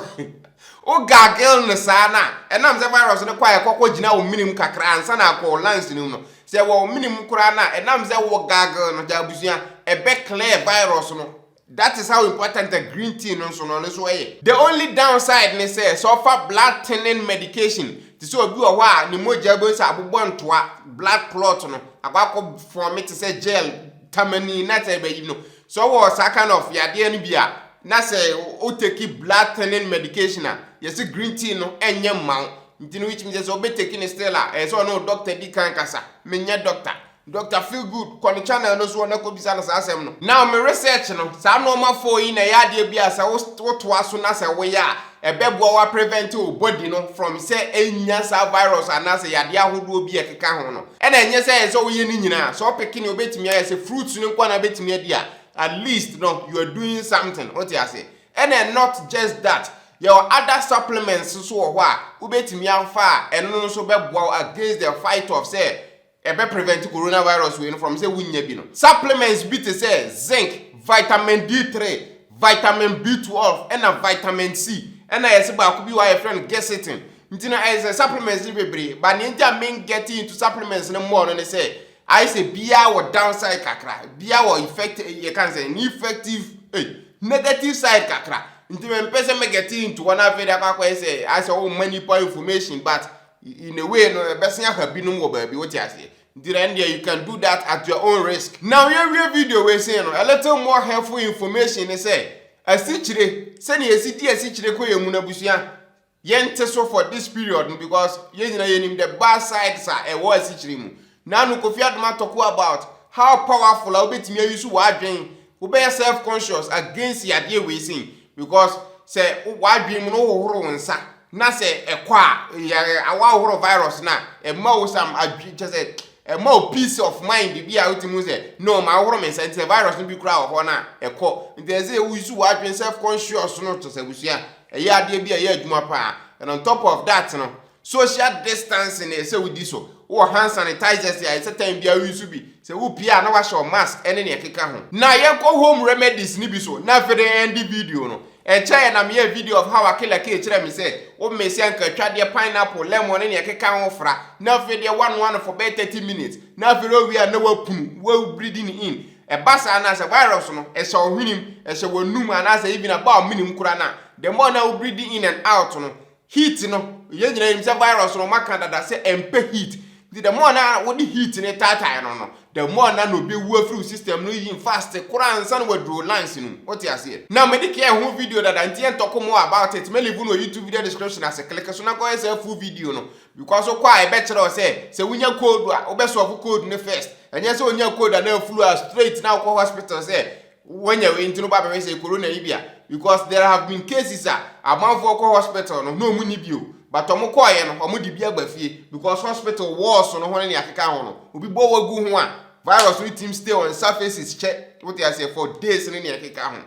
wo gargle no saa no a, ɛnam sɛ virus no kɔ a ɛkɔ kɔ gyina wo menem kakra ansa na akɔ wo lungs no mu no, sɛ ɛwɔ wo menem koraa no a, ɛnam sɛ wo gargle no, gya abusua, ɛbɛ clear virus no That is how important a green tea no nso no ɔno nso ɛyɛ. The only downside ne sɛ, sɛ ɔfa blood thinning medication, te sɛ obi wɔ hɔ a ne mogya wobɛhu sɛ abobɔ ntoa, blood clot no akɔ akɔ form te sɛ gel, tamani na sɛ ɛbɛyi no. Sɛ ɔwɔ saa kind of yadeɛ no bi a, na sɛ o take blood thinning medication a, yɛse green tea no ɛnyɛ mma wo. Nti no which means sɛ ɔbɛtake no still a, ɛyɛ sɛ ɔne wo doctor di kan kasa. Menyɛ doctor. Doctor feel good kɔ ne channel no soɔ na kɔ bisa no saa asɛm no. Now me research no, saa nnoɔma four yi na ɛyɛ adeɛ bi a sɛ wo wo toa so na sɛ wo yɛ a, ɛbɛboa wo a prevent wo body no from sɛ ɛnnya saa virus anaa sɛ yadeɛ ahodoɔ bi a ɛkeka ho no. Ɛna ɛnyɛ sɛ ɛsɛ wo yɛ ne nyinaa, sɛ wo pick ne obɛtumi ayɛ, sɛ fruits no nko ara na bɛtumi adi a, at least no you are doing something, wo te aseɛ. Ɛna not just that, yɛwɔ other supplements nso wɔ hɔ a wobɛtumi afa a ɛno nso bɛboa wo against the fight of sɛ Ɛbɛ prevent corona virus wei no from sɛ wo nya bi no. Supplements bi te sɛ zinc, vitamin D three, vitamin B twelve ɛna vitamin C ɛna yɛse baako bi wɔ a yɛfrɛ no gesitin. Nti no ayɛ sɛ supplements no bebree but nea nti a me ngetting into supplements no more no ne sɛ ayɛ sɛ biaa wɔ down side kakra, biaa wɔ effect yɛka no sɛ ne effective ei negative side kakra. Nti me mpɛ sɛ me getting into hɔ na afei de akɔ akɔyɛ sɛ ayɛ sɛ wo ma nipa information but In a way no ɛbɛsen aha binom wɔ baabi wote aseɛ nti na ɛndeɛ you can do that at your own risk. Now yɛwie video wei sei no a little more helpful information ne sɛ asikyire sɛnea yɛsi di asikyire kɔ yɛn mu no abusua yɛnte so for this period no because yɛn nyinaa yɛnim the bad sides a ɛwɔ asikyire mu Nano Kofi Adoma Tɔku about how powerful a wobɛtumi a use w'adwen, wobɛyɛ self conscious against yadeɛ wei sei because sɛ w'adwen mu no wohohoro wo nsa na sɛ ɛkɔ a yɛ woahohoro virus no a ɛma wo some adwen kyɛ sɛ ɛma wo peace of mind bi a wotumi hu sɛ no ma wohoro me nsa nti sɛ virus no bi koraa wɔ hɔ no a ɛkɔ nti ɛsɛ wo use w'adwen self conscious no kyɛ sɛ abusua ɛyɛ adeɛ bi a ɛyɛ adwuma paa and on top of that no Social distancing na ɛyɛ sɛ wodi so. Wowɔ hand sanitizers a ɛsɛ time biara woyi so bi. Sɛ wopue a na wahyɛ wo mask ne nea ɛkeka ho. Now yɛnkɔ home remedies no bi so na afei de yɛnde video no. Ɛnkyɛeɛ na meyɛɛ video of how Akila kee kyerɛɛ me sɛ, wo mix ankatwadeɛ, pineapple, lemon ne nea ɛkeka ho fra na afei deɛ woanoa no for bɛyɛ 30 minutes na afei deɛ wowie a na woapunu, woawu breathing in. Ɛba saa no a sɛ virus no ɛhyɛ wo hwenem, ɛhyɛ w'anum anaasɛ even ɛba wo menem koraa no a, the more na wo breathe in and out no, Heat no, yɛn nyinaa nim sɛ virus no wɔaka dada sɛ ɛmpɛ heat. Nti the more na wode heat no taatae no no, the more na na obewu afiri wo system no yin fast koraa ansa na waduru wo lungs no mu. Wote aseɛ? Na mede care ho video dada nti yɛntɔko more about it. Mɛ leave no wɔ YouTube video description ase, click so na kɔyɛ saa full video no because wokɔ a ɛbɛkyerɛ wo sɛ sɛ wonya cold a wobɛ solve cold no first. Ɛnyɛ sɛ onyaa cold anaa flu a straight na wokɔ hospital sɛ Wonya wei nti no ba bɛhwɛ sɛ corona yi bi a because there have been cases a amanfoɔ kɔ hospital no na ɔmo nni bi o but ɔmo kɔɔyɛ no ɔmo de bi aba fie because hospital walls no ho ne nea ɛkeka ho no obi bɔ wo gu ho a virus no tim stay on surfaces kyɛ wote aseɛ for days ne nea ɛkeka ho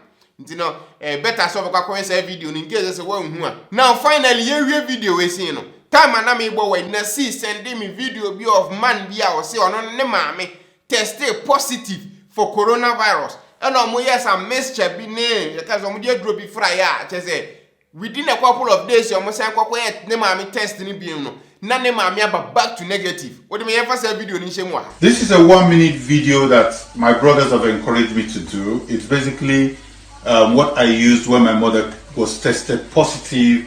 nti no eh, better sɛ ɔbɛkɔ akɔhwɛ saa video no in case sɛ woanhu a now finally yɛwie video wei sei no time a na mebɔ wei na see sɛnde me video bi of man bi a ɔse ɔno ne maame tɛstee positive for corona virus ɛna ɔmo yɛɛ some mixture bi ne yɛka sɛ ɔmo de aduro bi fraeɛ a kyɛ sɛ within a couple of days ɔmo san kɔkɔyɛ ne maame test no bio no na ne maame aba back to negative wode ma yɛmfa saa video no nhyɛ mu wɔ ha. This is a one minute video that my brothers have encouraged me to do. It's basically um, what I used when my mother was tested positive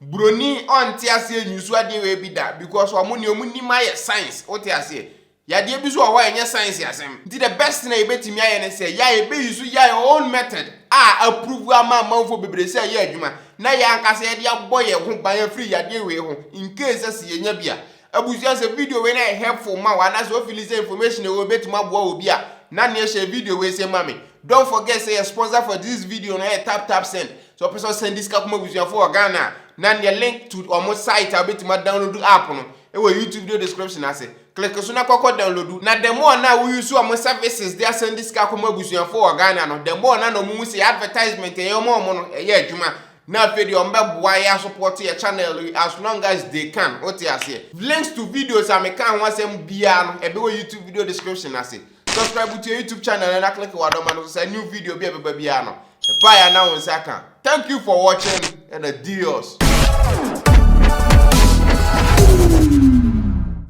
Broni ɔnte aseɛ nniso adeɛ wei bi da because ɔmo neɛ ɔmo nim ayɛ science wote aseɛ yadeɛ bi so wɔ hɔ a ɛnyɛ science asɛm nti the best thing a yɛbɛtumi ayɛ ne sɛ yɛa yɛbɛ use yɛa own method a approve ama amanfoɔ bebree sɛ ɛyɛ adwuma na yɛa ankasa yɛde abɔ yɛn ho ban afiri yadeɛ wei ho in case sɛ yɛnya bi a abusua sɛ video wei no ayɛ helpful ma wo anaasɛ wo feeling sɛ information ɛwɔ mu bɛtumi aboa wɔ bi a na neɛ hyɛ video wei sɛ ma me don't forget sɛ yɛ sponsor for this video no ɛyɛ tap tap send Sɛ ɔpɛ sɛ ɔsɛnde sika kɔma abusuafo wɔ Ghana a, na neɛ link to wɔn site a wobɛtumi adownloadu app no wɔ YouTube video description ase. Click so na kɔ kɔ downloadu. Na the more na wo use wɔn services de asɛnde sika kɔma abusuafo wɔ Ghana no, the more na na wɔn hu sɛ yɛ advertisement a yɛyɛ ma wɔn no ɛyɛ adwuma. Na afei deɛ wɔn bɛboa yɛ asopɔte yɛ channel yi as long as they can, wote aseɛ. Links to videos a mekaa ho asɛm biara no ɛbɛwɔ YouTube video description ase. Subscribe to yɛ YouTube channel no na click w'adɔma no so sɛ new video bi a ɛbɛba biara no, ɛbaeɛ a na wo nsa ka. Thank you for watching and adios!